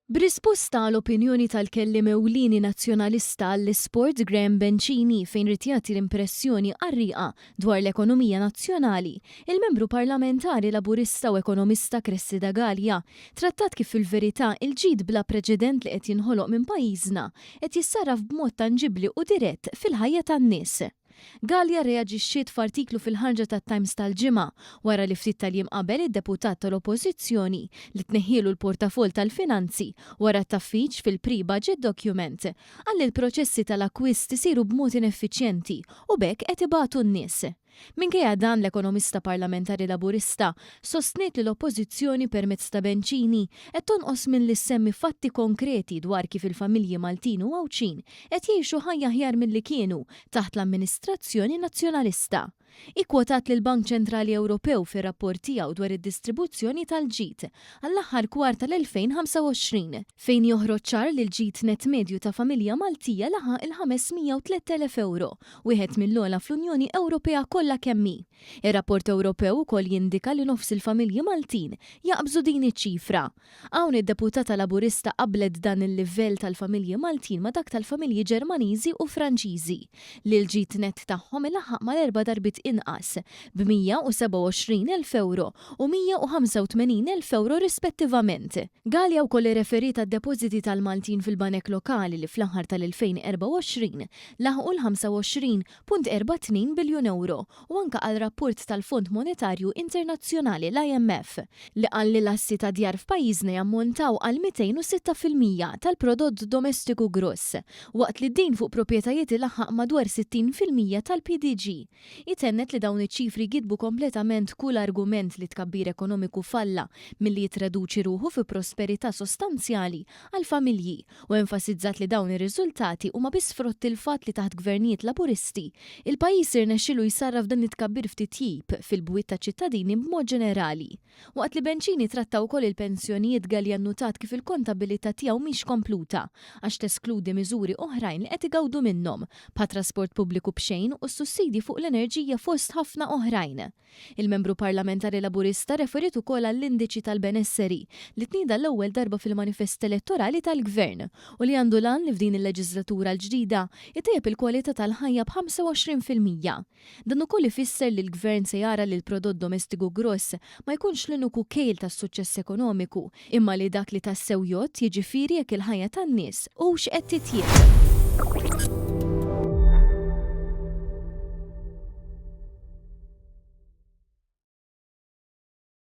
B'risposta għal opinjoni tal-kelliem ewlieni Nazzjonalista għall-Isport Graham Bencini fejn ried jagħti l-impressjoni qarrieqa dwar l-ekonomija nazzjonali, il-Membru Parlamentari Laburista u ekonomista Cressida Galea trattat kif fil-verità il-ġid bla preċedent li qed jinħoloq minn pajjiżna qed jissarraf b'mod tanġibbli u dirett fil-ħajja tan-nies. Galea rreaġixxiet f'artiklu fil-ħarġa tat-Times tal-Ġimgħa wara li ftit tal-jiem qabel id-deputat tal-Oppożizzjoni, li tneħħielu l-portafoll tal-finanzi wara t-taffiġ fil-pre-budget document, qal li l-proċessi tal-akkwist isiru b'mod ineffiċjenti u b'hekk qed ibatu n-nies. Minkejja dan, l-ekonomista parlamentari Laburista sostniet li l-Oppożizzjoni permezz ta' Bencini qed tonqos milli ssemmi fatti konkreti dwar kif il-familji Maltin u Għawdxin qed jgħixu ħajja aħjar milli kienu taħt l-amministrazzjoni Nazzjonalista. Hi kkwotat lill-Bank Ċentrali Ewropew fir-rapport tiegħu dwar id-distribuzzjoni tal-ġid għall-aħħar kwart tal-2025, fejn joħroġ ċar li l-ġid nett medju ta' familja Maltija laħaq il-503,000 ewro, wieħed mill-ogħla fl-Unjoni Ewropea kollha kemm hi. Ir-rapport Ewropew ukoll jindika li nofs il-familji Maltin jaqbżu din iċ-ċifra. Hawn id-deputata Laburista qabblet dan il-livell tal-familji Maltin ma' dak tal-familji Ġermaniżi u Franċiżi, li l-ġid nett tagħhom ilaħħaq mal-erba' darbiet inqas, b' 127 elf ewro u 185 elf ewro rispettivament. Galea wkoll irreferiet għad-depożiti tal-Maltin fil-banek lokali li fl-aħħar tal-2024 laħqu l-25 1.42 biljun ewro, u anke għal rapport tal-Fond Monetarju Internazzjonali, l-IMF, li qal li l-assi ta' djar f'pajjiżna jammontaw għal 206 fil-mija tal-prodott domestiku gross, waqt li d-dejn fuq proprjetajiet ilaħħaq madwar 60 fil-mija tal-PDG. Hi tennet li dawn iċ-ċifri jgiddbu kompletament kull argument li t-tkabbir ekonomiku falla milli jittraduċi ruħu fi prosperità sostanzjali għall-familji u enfasizzat li dawn ir-riżultati huma biss frott il-fatt li taħt Gvernijiet Laburisti, il-pajjiż irnexxielu jsarraf dan it-tkabbir f'titjib fil-bwiet taċ-ċittadini b'mod ġenerali. Waqt li Bencini tratta wkoll il-pensjonijiet Galea nnutat kif il-kontabilità tiegħu mhix kompluta għax teskludi miżuri oħrajn li qed igawdu minnhom, bħat-trasport pubbliku b'xejn u s-sussidji fuq l-enerġija fost ħafna oħrajn. Il-Membru Parlamentari Laburista referiet ukoll għall-Indiċi tal-Benesseri, li tnieda għall-ewwel darba fil-manifest elettorali tal-Gvern, u li għandu l-għan li f'din il-leġiżlatura l-ġdida jtejjeb il-kwalità tal-ħajja b'25 fil-mija. Dan ukoll ifisser li l-Gvern se jara li l-prodott domestiku gross ma jkunx l-uniku kejl tas-suċċess ekonomiku, imma li dak li tassew jgħodd, jiġifieri jekk il-ħajja tan-nies hux qed titjieb.